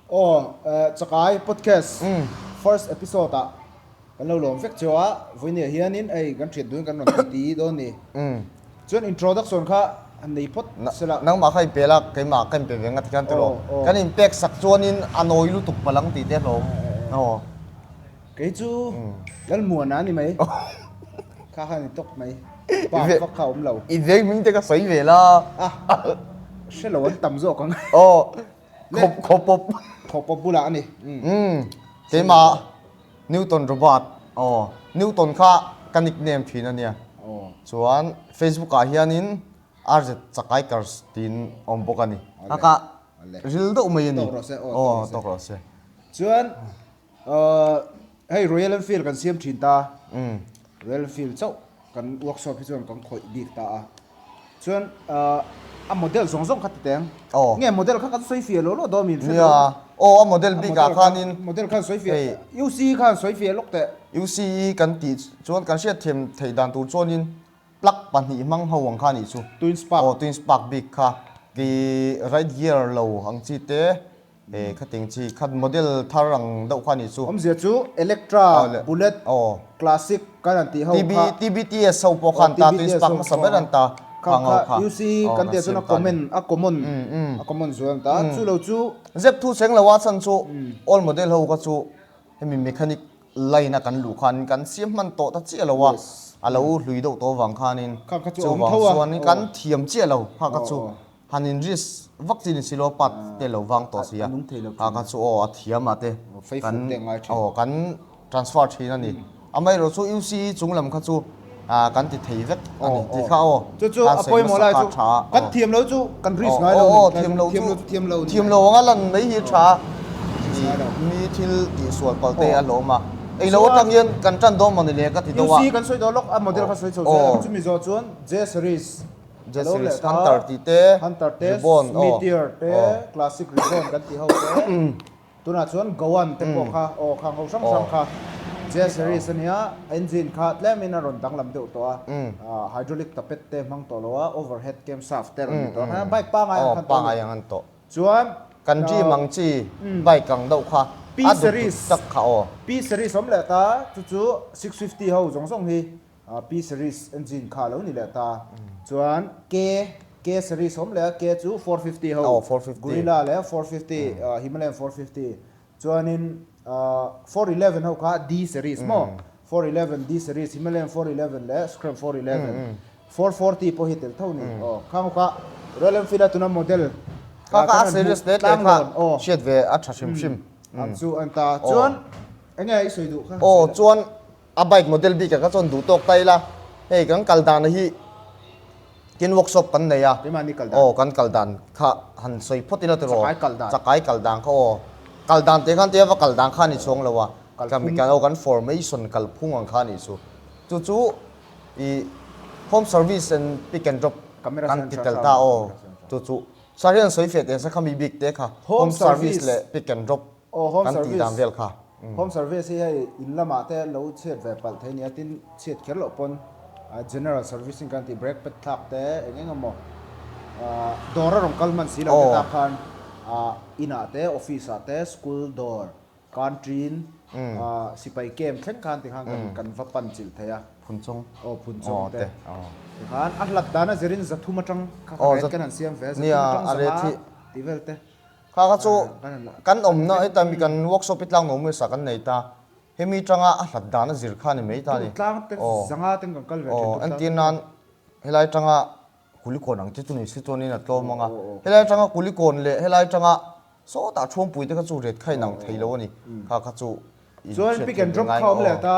Aw eh Chakai podcast first episode ah kan lo lawm vek cio a, vui nia hian in ei kan thian dun kan rawn ti ti dawn ni. Chuan introduction kha han nei phawt sela. Nangmah kha i pel a, keimah ka in pe ve ngat hian ti lo. Kan in pek sak chuan in a nawi lutuk palang ti te hlawm. Aw. Kei chu Lalmuan a ni mai. Kha khan i tawk mai. Pa vak kha a awm lo. I veng hming te ka sawi ve la. A hre lo an tam zawk ang. Aw khawp khaw pawp. Khaw pawp bulah a ni. Umm keimah Newton Robert aw Newton kha ka nickname thin a nia. Chuan Facebook ah hianin RZ Chakaikars tiin a awm bawk a ni. Kha ka ril deuh mai a ni. Aw tawk rawh se. Chuan. Hei Royal Enfield kan siam thin ta a, Royal Enfield chauh kan workshop hi chuan kan khawih bik ta a, chuan a model zawng zawng kha ta teng, nge model kha kan sawi fia lo lo dawn min hre lo, aw a model bik ah khan in, model khan sawi fia, UC i khan sawi fia lawk teh, UC i kan tih chuan kan hriat thiam theih dan tur chuan in plug pahnih hmang ho ang kha a nih chu, twin spark, aw twin spark bik kha, kei right gear lo ang chi te, He khating chi khat model thar ang deuh kha ni chu. Awmzia chu Electra, Bullet, Classic kan han tih ho kha. TB, TBTS ho pawh khan ta tui spark hmasa ber an ta. Kha ngho kha. UC kan tia chuan a common, a common, a common zual an ta. Chu lo chu. Zep thu cheng lo a chan chu all model ho kha chu hemi mechanic line a kan luh khanin kan siam hman tawh ta chiah lo a, a lo hlui deuh tawh vang khanin chu vang chuan kan thiam chiah lo kha kha chu. Han inrisk vak chin isi law part tel lo vang tawh si a, a ka chu aw a thiam ah te kan aw kan transfer thin a ni. Amaherawh chu UC hi chung lam kha chu ah kan ti thei vek a ni tih kha aw tan sawi hmasa kha a tha a. Kan thiam lo chu kan risk ngai lo a ni. Aw aw thiam lo chu thiam lo ang a lan mai hi a tha a. Mi thil tih sual pal te a hlawm a, ei lo atang hian kan tan dawn mawni le ka ti deuh a. UC kan sawi dawh lawk a model kha sawi chho zel ang chu mizo chuan J series. Jazz-series, Hunter tih te, Ribbon aw. Meteor te, Classic Ribbon kan tih ho te, tunah chuan Goan te pawh kha aw kha ho hrang hrang kha Jazz-series a nia, engine kha tlem-in a rawn danglam deuh tawh a, hydraulic tapet te hmang tawh lo a, overhead camshaft te a rawn ni tawh a, bike pangai ang khan tawh a ni. Aw, pangai ang khan tawh. Chuan. Kan rim ang chi bike ang deuh kha a dut dut tak kha aw. P-series awm leh ta, chu chu six fifty ho zawng zawng hi Pi series engine kha lo ni leh ta chuan K K series awm leh a K chu four fifty ho Gorilla leh four fifty Himalayan four fifty chuanin four eleven ho kha D series maw four eleven D series Himalayan four eleven leh Scram four eleven four forty pawh hi tel tho ni aw khang ho kha Royal Enfield a tuna model kha khan an hmuh tlang dawn aw hriat ve a tha hrim hrim ang chu a ni ta chuan enge i sawi duh kha aw chuan. A bike model bik ah kha chuan duh tawk ta ila, hei kan kal dan a hi kin workshop kan nei a, aw kan kal dan kha han sawi phawt ila tiraw, chakai kal dan kha aw, kal dan teh khan tei va kal dan kha a ni chuang lo a, aw kan formation kalphung ang kha a nih chu, chu chu i home service and pick and drop kan ti tel ta aw chu chu, sa hian sawi fiah teh ang se kha mi bik te kha home service leh pick and drop. Aw home service. Kan tih dan vel kha. Home service hi hei in lamah te an lo chhiat ve palh thei nia tin chhiat kher loh pawn general servicing kan tih brake pad thlak te eng eng emaw dawr a rawn kal hman si lo te ta khan in ah te office ah te school dawr country-in sipai camp thleng khan ti khan kan kan va pan chilh thei a. Phun chawng. Aw phun chawng te ti khan a hlat dan a zirin zathum atang kha ka ret kan han siam ve a zathum atang sangha tihvel te. Kha kha chu kan awmna heta mi kan workshop i tlak no maw sa kan nei ta, hemi tanga a hlat dan a zir kha ni mai ta ni. Aw entir nan helai tanga kulikawn ang te chu ni si chuan in a tlawm ang a, helai tanga kulikawn leh helai tanga sawtah thuampui te kha chu ret kha inang thei lo a ni, kha kha chu. Chuan pick and drop kha awm leh ta,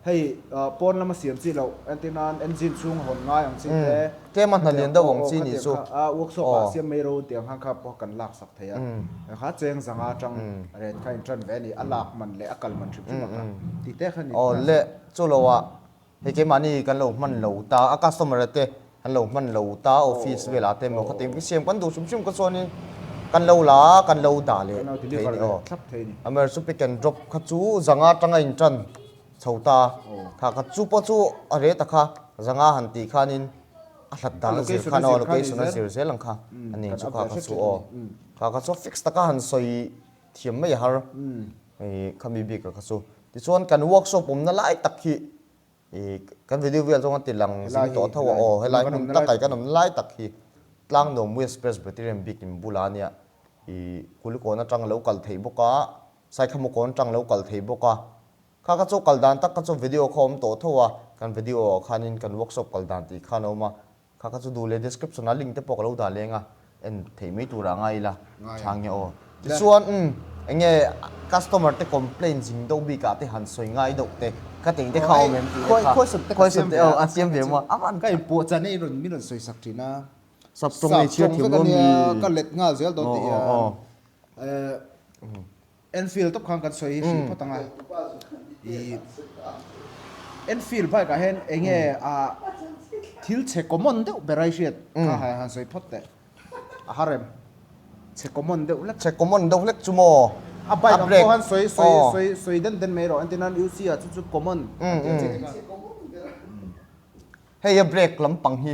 hei pawn lama siam chi loh entir nan engine chhung a hawn ngai ang chi te, tlem a hna lian deuh ang chi nih chu, a workshop ah siam mai ro tia khan kha pawh kan lak sak thei a, he kha cheng zang a tang ren kha in tan ve a ni, a lak man leh a kal man hrim hrim a kha tih te kha nin ka hralh. Hei keimahni kan lo hman lo ta a, customer te kan lo hman lo ta a, office velah te maw khatin ka siam kan duh sum sum ka chuanin kan lo la a, kan lo dah leh thei a ni aw. A mer chu pick and drop kha chu zanga tanga in tan chho ta kha ka chu pawh chu a reh ta kha zanga han tih khanin a hlat dan a zir khan aw, location a zir zel ang kha a nen chu kha ka chu aw. Kha ka chu fix taka han sawi. thiam mai a har i khami bik a kha chu tichuan kan workshop awmna lai tak hi i kan video vel zawng a ti lang zing tawh a tho a aw helai hmun ta kai kan awmna lai tak hi Tlangnuam West Presbyterian bikin bula nia i kulikawn atang lo kal thei bawk a saikhamu kawn atang lo kal thei bawk a kha kha chu kal dan tak kha chu video kha awm tawh tho a kan video ah khanin kan workshop kal dan tih khan a awm a Kha kha chu duh leh description ah link te pawh ka lo dah leng a, en theih mai tur ah ngai ila chhang nia aw. Tichuan umm enge customer te complain zing deuh bik ah te han sawi ngai deuh te ka tih te kha awm em tih te kha khuaisup te a siam ve maw a man kha. Pawh chan i rawn min rawn sawi sak thin a. Sap tawng nei chhiar thiam lo a ni. Ka let nghal zel tawh teh hian. Enfield top khan kan sawi hrilh phawt ang a, ih Enfield bike ah hian eng nge a thil chhe common deuh ber ai hriat kha hai han sawi phawt teh a ha rem, chhe common deuh hlek, chhe common deuh hlek chu maw, a bike ang pawh han sawi sawi sawi sawi den den mai erawh entirnan UC ah chu chu common an ti a che. Hei a break lampang hi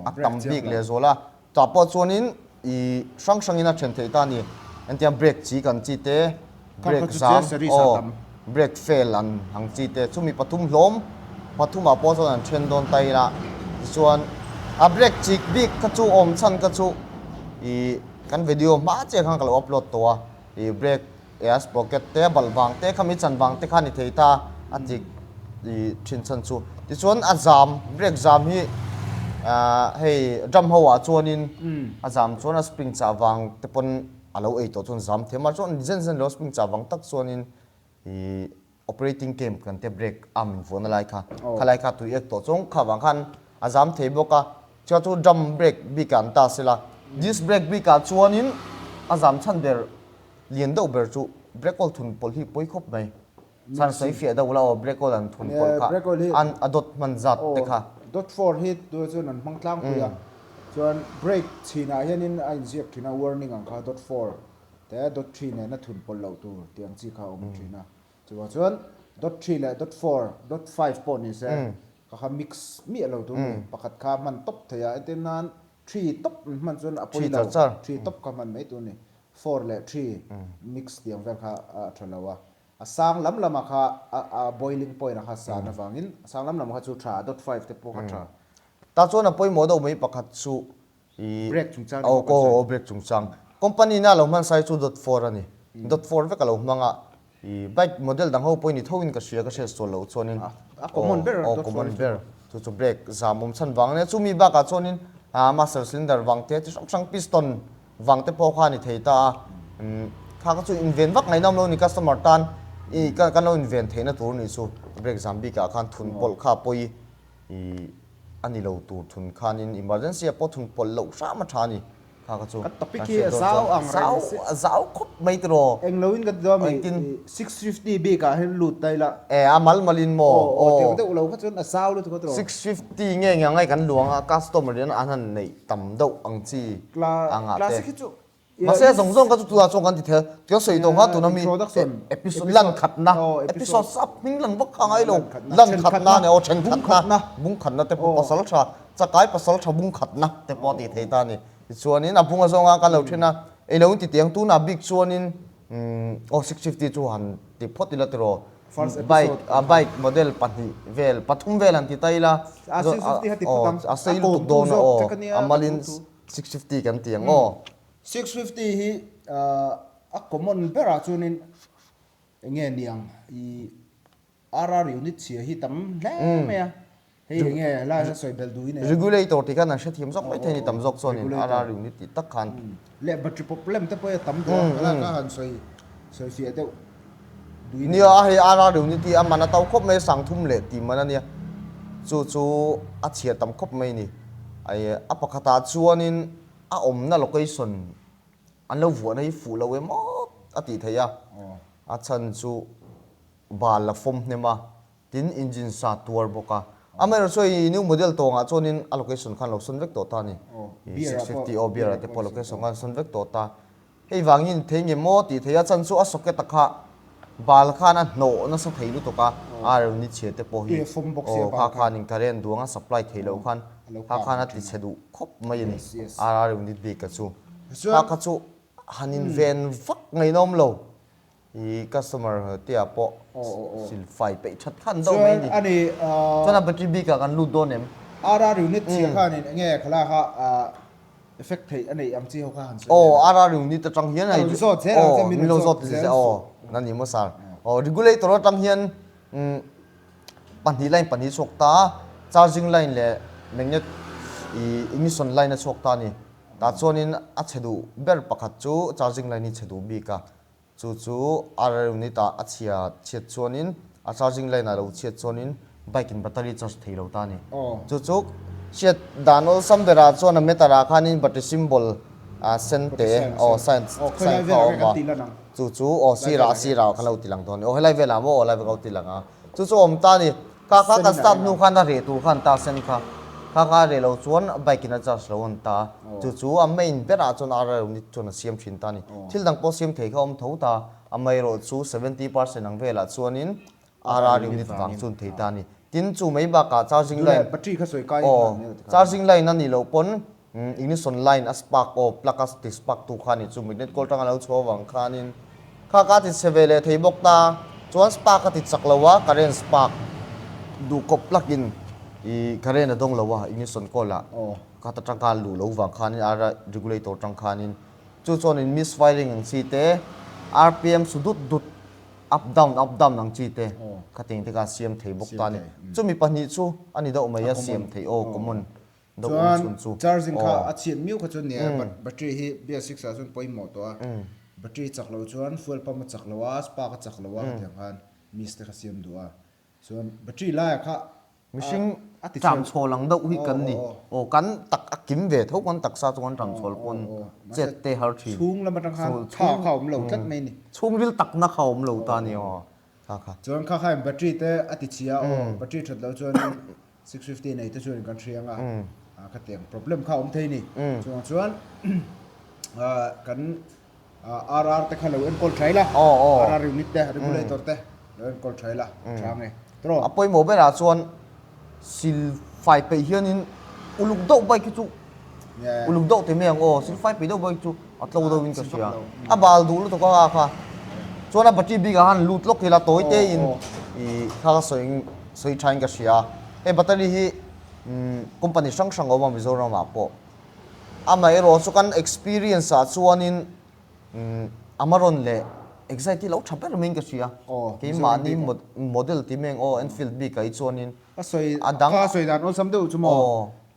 a tam bik leh zawl a, tah pawh chuanin i hrang hrangin a then theih ta a ni. Entiang break chi kan chi te, break zam aw, break fail an ang chi te, chumi pathum hlawm, pathumah pawh chuan an then dawn ta ila, tichuan a break chik bik kha chu awm chhan kha chu i kan video hma chiah khan ka lo upload tawh a. i break ears pocket te bal vang te kha mi chan vang te kha ni thei ta a ti i thin chhan chu ti chuan a zam break zam hi hei drum ho ah chuan in a zam chuan a spring chah vang te pawn a lo ei tawh chuan zam thei mar chuan zen zen lo spring chah vang tak chuan in operating camp kan tia break a min vuana lai kha khalai kha tui ek tawh chuan kha vang khan a zam thei bawk a chhuat chu drum break bik ah an ta se la disc break bik ah chuan in a zam chhan ber lian deuh ber chu break oil thun pawlh hi pawi khawp mai chhan sawi fiah deuh la aw break oil an thun pawlh kha an a dawt hman zat te kha dawt for hi tunah chuan an hmang tlangpui a chuan break chhin ah hian in a in ziak thin a warning ang kha dawt for te dawtthri nena thun pawlh loh tur tih ang chi kha a awm a thin a, chuvang chuan dawtthri leh dawtfour, dawtfive pawh ni se ka kha mix miah lo tur ni, pakhat kha hman tawp thei a, entir nan three tawp an hman chuan a pawi lo, three tawp kha hman mai tur ni, four leh three mix tih ang vel kha a tha lo a, a sang lam lam a kha a boiling point a kha san avangin a sang lam lam a kha chu tha a, dawtfive te pawh kha tha. Tah chuan a pawimawh deuh mai pakhat chu Break chungchang emaw kan sawi? Aw, break chungchang. Company na lo hmansai chu dawt four a ni. Dawt four vek a lo hmang a. Bike model dang ho pawhin ni thoin ka hria ka hriat chawl loh chuanin. A common ber a dawt four hi chu. Aw, common ber. Chu chu break zam awm chhan vang a nia. Chumi bakah chuanin master cylinder vang te chi hrang hrang, piston vang te pawh kha a ni thei ta a. Kha ka chu inven vak ngaihna awm lo a ni customer tan kan lo inven theihna tur a nih chu. Break zam bikah khan thun pawlh kha pawi. a ni lo tur thun khan in emergency a pawh thun pawlh loh hram a tha a ni. Kha ka chu kan hriat dawn chuan a zau a zau khawp mai te rawh. Englo in ka ti deuh a mi i six fifty bik ah hian lut ta ila. E a mal mal in maw aw. Aw deuh deuh lo kha chuan a zau lutuk a tawh. Six fifty nge eng ang ai kan luang a customer in an han neih tam deuh ang chi ang ah te. Classic hi chu Mahse, zawng zawng kha chu tunah chuan kan ti thei a, tih sawi tawh nga tuna mi episode lan khatna, episode a hming lang vak kha a ngai lo, lan khatna a ni aw, then khatna, bung khatna te pawh pasal tha, chakai pasal tha bung khatna te pawh a ti thei ta a ni. Tichuanin a bunga zawng a kan lo then a, ei lo in titi ang, tunah bik chuanin aw six fifty chu han ti phawt ila tiraw, bike bike model pahnih vel, pathum vel han ti ta ila, aw a sei lutuk dawn a aw, a mal in Six fifty kan ti ang aw. Six fifty hi a common berah chuanin enge niang i RR unit chhia hi tam hle mai a. Hei enge laia sawi bel duh i nei a. Regulator tih khan an hrethiam zawk maithei a ni tam zawk chuanin RR unit tih tak khan. Leh battery problem te pawh hi a tam duh a. Laka han sawi sawi fiah deuh. Duinia a hei Ara riu ni tih a man a to khawp mai a sang thum leh tih man a nia chu chu a chhiat tam khawp mai ni ai a pakhat ah chuan in a awmna location an lo vuah na hi fuh lo em awt a tih theih a a chhan chu bal la fawm hnem a tin engine sa tuar bawk a amaherawh chu hei new model tawng ah chuan in a location khan an lo sawn vek tawh ta a ni six fifty aw beer ah te pawh location khan an sawn vek tawh ta. Hei vangin thei nge maw tih theih a chan chu a socket a kha bal khan a hnawh nasa thei lutuk a, a rawn ni chhiat te pawh hi aw kha khan current duanga supply theih loh khan kha khan a ti chhe duh khawp mai a ni a rawn ni bik a chu. Kha kha chu han inven vak ngeiin a awm lo. I customer tia pawh sil fai peih that khan deuh mai a ni. Chuan a battery bik ah kan lut dawn em? Ara riu nit chhia khan in enge thlalak a effect theih a neih ang chi ho kha han sawi leh a. Ara riu nit atang hian hei min lo zawt zel suh. Aw nan ni maw sir. Aw regulator atang hian pahnih line pahnih a chhuak ta a, charging line leh magnet ih ignition line a chhuak ta a ni. Tah chuan in a chhe duh ber pakhat chu charging line hi chhe duh bik a. Chu chu RR unit ah a chhia chhiat chuanin a charging line ah lo chhiat chuanin bike in battery charge thei lo ta a ni. Chu chu hriat dan awlsam berah chuan a meter ah khanin battery symbol ah sen te aw sign sign kha a awm a. Chu chu aw sirah a sirah kha lo ti lang dawn a ni. Aw helai velah maw? Aw helai vek a lo ti lang a. Chu chu a awm ta a ni. Car kha kan start hnu khan a reh tur khan Tarsen kha car kha a reh lo chuan bike in a charge lo a awm ta a, chu chu a main ber ah chuan ara unit chuan a siam thin ta a ni. Thil dang pawh siam thei kha a awm tho ta a, a maerawh chu seventy percent ang vel ah chuan in ara unit vang chuan thei ta a ni. Tin chu mai bak ah charging line aw charging line a nih loh pawn, Umm ignition line a spark aw plug a ti spark tu kha ni chu mitnet kawl tang a lo chhuah avang khanin kha ka ti chhe ve leh thei bawk ta chuan spark a ti chak lo a current spark duh kawp plug in ih current a dawng lo a ignition kawl ah kha ta tang khan luh lo vang khanin ara regulator tang khanin chu chuan in miss firing ang chi te rpm su dut dut up down up down ang chi te kha teng te khan siam thei bawk ta a ni chu mi pahnih chu a ni deuh mai a siam thei aw common. Chuan charging kha a chhiat miau kha chuan nia battery hi BS six ah chuan pawimawh tawh a, battery chak lo chuan fuel pump a chak lo a, spark a chak lo a hetiang khan miss te kha siam duh a, chuan battery laia kha mihring a tichhiam chhawl ang deuh hi kan ni, aw kan tak a kim ve tho kan taksa chu kan ram chhawl pawn chet te har thin, chhung lam atang khan kha kha awm lo tlat mai ni, chhungril takna kha awm lo ta ni aw kha kha. Chuan kha khain battery te a tichhia aw battery that lo chuan Six fifty nei te chuan kan hriang a, a ka tiang problem kha awm thei ni, chungah chuan kan RR te kha lo enkawl tha ila, RR unit te regulator te lo enkawl tha ila, tha nge tawh. A pawimawh berah chuan silfai peih hianin uluk deuh bike hi chu uluk deuh te mai ang aw, silfai peih deuh bike hi chu. A tlo deuhin ka hria. A bal duh lutuk a kha. Chuan a battery bikah khan lut lawk ila tawi tein ih kha ka sawi sawi thain ka hria. Hei battery hi company hrang hrang a awm a Mizoramah pawh. Amaherawh chu kan experience ah chuanin Amaron leh Excite hi lo tha ber maiin ka hria. Keimahni model ti meng aw Enfield bikah hi chuanin a dang. Aw.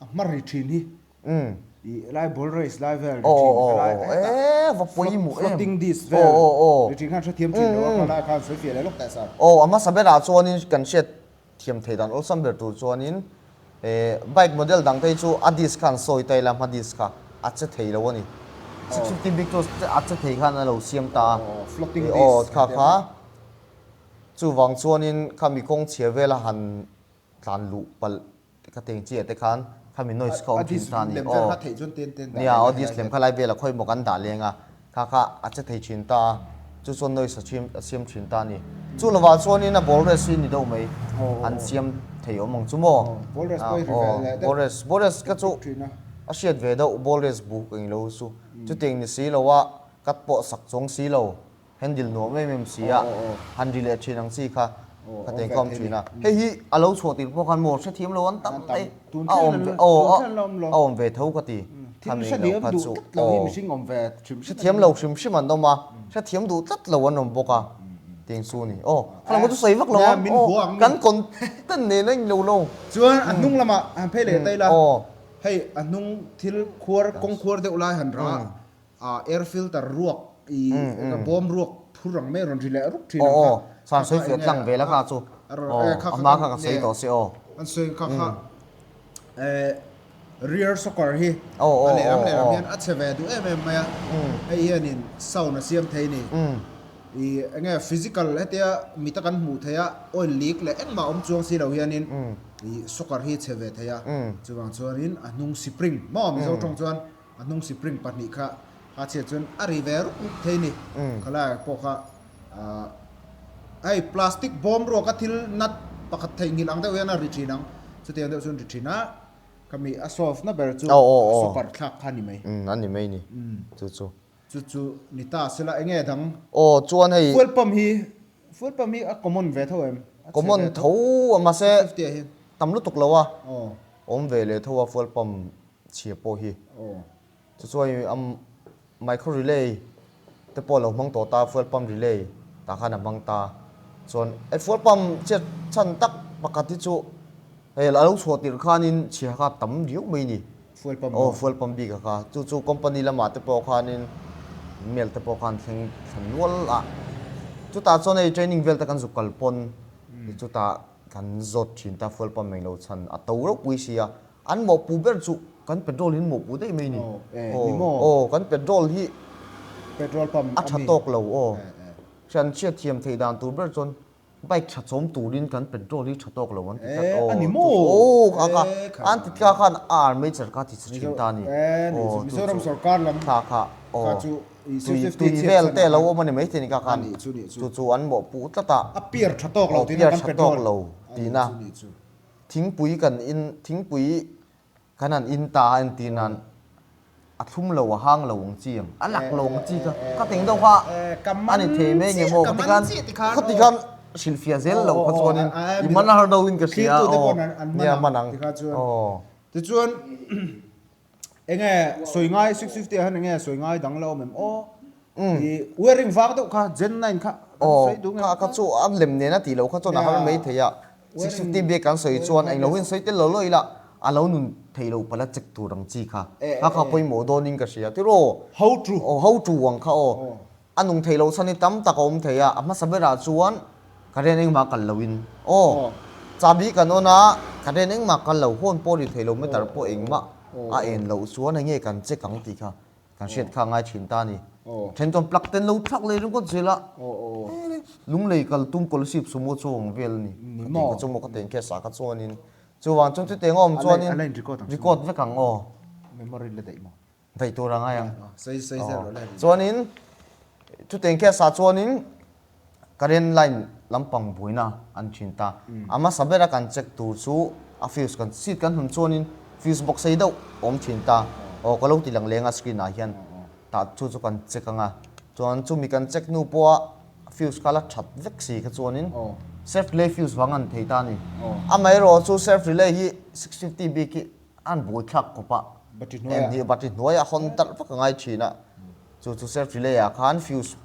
A hma ri thin hi i helai ball race lai vel ri thin helai hetah va pawimawh em floating disk vel ri thin khan hrethiam thin lo a kha lai khan sawifiah leh lawk ta sa. Aw a hmasa berah chuanin kan hriat thiam thei dan awlsam ber tur chuanin he bike model dang te chu a disk khan sawi ta ila a hma disk kha a che thei lo a ni six fifty big two a che thei khan a lo siam ta a aw kha kha chuvang chuanin kha mi kawngchhia vel a han Tlan luh palh ka teng chiah te khan kha mi noise kha awm thin ta ani aw nia aw disk lem kha lai vel ah khawi maw kan dah leng a kha kha a che thei thin ta a chu chuan noise a chim a siam thin ta ani chu lovah chuan in a ball race hi ni deuh mai an siam thei awm ang chu maw aw ball race ball race ka chu a hriat ve deuh ball race bu ka ilo chu chutiang ni si lo a cut pawh sak chuang si lo. Handle nuam em em si a, han ri leh thin ang chi kha ka tei kawm thin a. Hei hi a lo chhuah tir pawh khan maw hre thiam lo an tam mai a awm ve aw a awm ve tho ka ti. Thil hre thiam duh tlat lo hi mihring awm ve hrim hrim. Hre thiam lo hrim hrim an awm a, hre thiam duh tlat lo an awm bawk a tiang chu a ni. Aw kha lam chu sawi vak lo a, kan content nena in lo lo. Chuan a hnung lamah han phei leh daih la, hei a hnung thil khuar kawng khuar deuh lai han ra. Ah air filter ruak i ka bawm ruak phur ang mai a rawn ri leh rup thin ang kha. Aw aw, chhan sawi fiah tlang vel a kha chu. Aw, a hma kha ka sawi tawh se aw. Kan sawi ang kha kha. Eh rear shocker hi a lehlam lehlam hian a chhe ve duh em em mai a. Hei hianin sound a siam thei ni. I enge physical hetia mite kan hmuh theih a oil leak leh engmah awm chuang si lo hianin i shocker hi chhe ve thei a. Chuvang chuanin a hnung spring mawm mizo tawng chuan. A hnung sipring pahnih kha Hachhiat chuan a ri ve rup rup thei ni. Khalaiah pawh kha hei plastic bawm ruak a thil nut pakhat thei ngilh ang deuh hian a ri thin ang. Chuti ang deuh chuan ri thin a, khami a solve na ber chu super thlak kha a ni mai. Umm a ni mai ni chu chu. Chu chu ni ta se la, eng nge dang? Aw chuan hei. Fuel pump hi, fuel pump hi a common ve tho em? Common tho a mahse tam lutuk lo a awm ve leh tho a fuel pump chhia pawh hi chu chu hei a micro relay te pawh a lo hmang tawh ta fuel pump relay tah khan a hmang ta chuan hei fuel pump chhiat chhan tak pakhat hi chu hei a lo chhuah tirh khanin chhia kha tam riau mai a ni fuel pump aw fuel pump bik a kha chu chu company lamah te pawh khanin mel te pawh khan thleng thlan nual a chutah chuan hei training vel te kan zuk kal pawn chutah Kan zawt thin ta fual pam mai lo chhan a to reuh pui sia an mawh pu ber chu kan petrol in mawh pu daih mai ni aw aw kan petrol hi petrol pam a tha tawk lo aw hrian hriat thiam thei dan tur ber chuan bike tha chawm turin kan petrol hi tha tawk lo an ti tlat aw ani maw aw kha kha an ti kha khan a arh mai cher kha ti chhe thin ta ani aw chu chu kha kha aw. tui vel te alo awm a ni mai te ni ka khan chu chu an mawh puh tlat a, a piar tha tawk lo tihna kan pe dawn, aw piar tha tawk lo tihna thingpui kan in thingpui kan han in ta a en tihna a thlum lo a hang lo ang chi ang a lak lo ang chi kha ka teng deuh kha a ni thei mai nge maw ka ti khan khawti khan hrilhfiah zel lo kha chuan in i man har deuh in ka hria aw nia man ang aw tichuan. Enge sawi ngai six fifty han enge sawi ngai dang la awm em aw i wearing vang deuh kha gen nine kha kan sawi dung em aw kha chu an lem nen a tih lo kha chuan a har mai thei a six fifty bag kan sawi chuan eng lo in sawi tel lo lo ila a lo nun thei lo pala check tur ang chi kha kha kha pawimawh dawn in ka hria tiraw how true aw how true ang kha aw. A nung thei lo chhan hi tam tak a awm thei a, a hmasa berah chuan ka rian engmah kal lo in aw chahbi kan awn a, ka rian engmah kal lo, hawn pawh a ri thei lo meter pawh engmah a en loh chuan hei nge kan check ang tih kha kan hriat kha a ngai thin ta a ni. A then chuan plug ten lo thlak leh ringawt zel a, lung lei kal tum coalsip sumo chu a awm vel a ni, ka tih ka chu maw ka tih ang khes ah kha chuan in chuvang chuan chutiang a awm chuan in record vek ang aw. Hnaih tur a ngai ang. Chuanin chute engkhiah sa chuanin current line lampang buaina an thin ta. A masa bera kan check tur chu a fuse kan chhit kan hun chuanin fuse box sei deuh a awm thin ta. Aw ka lo ti lang leng a screen ah hian tah chu chu kan check anga chuan chumi kan check nu pawha fuse kha la that vek si kha chuanin self relay fuse vang a ni thei ta a ni. Amaherawhchu self relay hi six fifty bik hi an buaithlak khawpa em ni bati hnuaia a hawn talh vak a ngai thin a, chu chu self relay ah khan fuse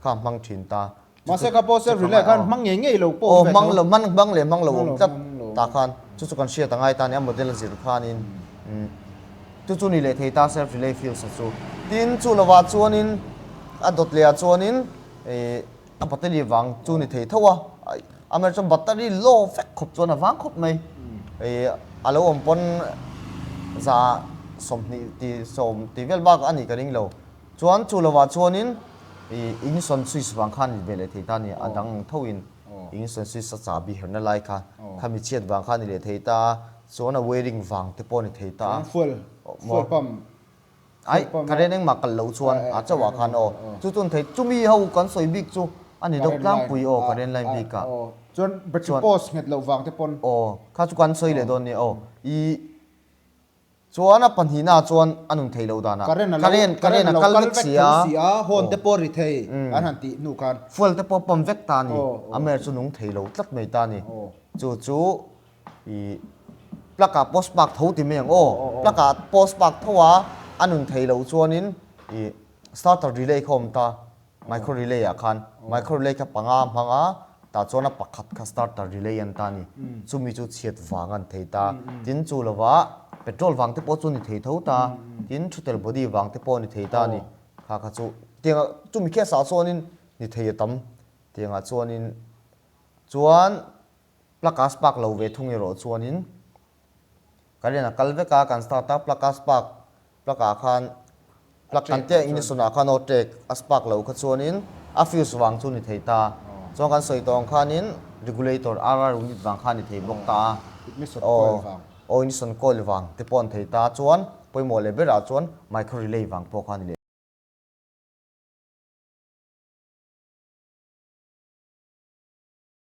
kha hmang thin ta. Mahse kha pawh self relay ah khan hmang ngei ngei lo pawh awm ve tho. Aw hmang leh hmang lo awm tlat ta khan chu chu kan hriat a ngai ta a ni a model zir khanin chu chu ni leh thei ta self relay fuse chu tin chu lova chuanin a dawt leh ah chuanin ih A battery vang chu ni thei tho a, amaherawh chuan battery low vek khawp chuan a vang khawp mai. Ih a lo awm pawn za sawmhnih ti sawm ti vel bak a nih ka ring lo. Chuan chu lo ah chuanin ih in sawn switch vang khan ni ve leh thei ta a ni, a dang ang tho in in sawn switch a chahbi herna lai kha khami chhiat vang khan ni leh thei ta a, chuan a wiring vang te pawh a ni thei ta a. Fuel pump. Aih, ka rian engmah kal lo chuan a chauh ah khan aw. Chu chuan thei, chumi ho kan sawi bik chu a ni deuh tlangpui aw, ka rian line bik ah. Chuan battery post nghet loh vang te pawn. Aw, kha chu kan sawi leh dawn nia aw. I chuan a pahnih na chuan a nun thei lo dan a. Ka rian ka rian ka rian a kal vek si a. Horn te pawh a ri thei an han tih hnu khan. Fuel te pawh a pump vek ta a ni. A mer chu nung thei lo tlat mai ta a ni. Chu chu. I plug ah post mark tho ti mai ang aw plug ah post mark tho a a nun thei lo chuan in i starter relay kha awm ta micro relay ah khan micro relay kha panga hmang a tah chuan a pakhat kha starter relay an ta a ni chumi chu chhiat vang an thei ta tin chu lo va petrol vang te pawh chu ni thei tho ta tin thutel body vang te pawh ni thei ta a ni kha kha chu tiang ah chumi khiah sah chuan in ni thei a tam tiang ah chuan in chuan Plug a spark lo ve thung erawh chuanin current a kal vek a, kan start a plug a spark plug ah khan plug kan tia in sunah khan aw tek a spark lo kha chuanin a fuse vang chu ni thei ta a, chuan kan sawi tawng khanin regulator RR unit vang khan a ni thei bawk ta a, aw aw ignition coil vang te pawh a ni thei ta a, chuan pawimawh leh berah chuan micro relay vang pawh kha a ni leh.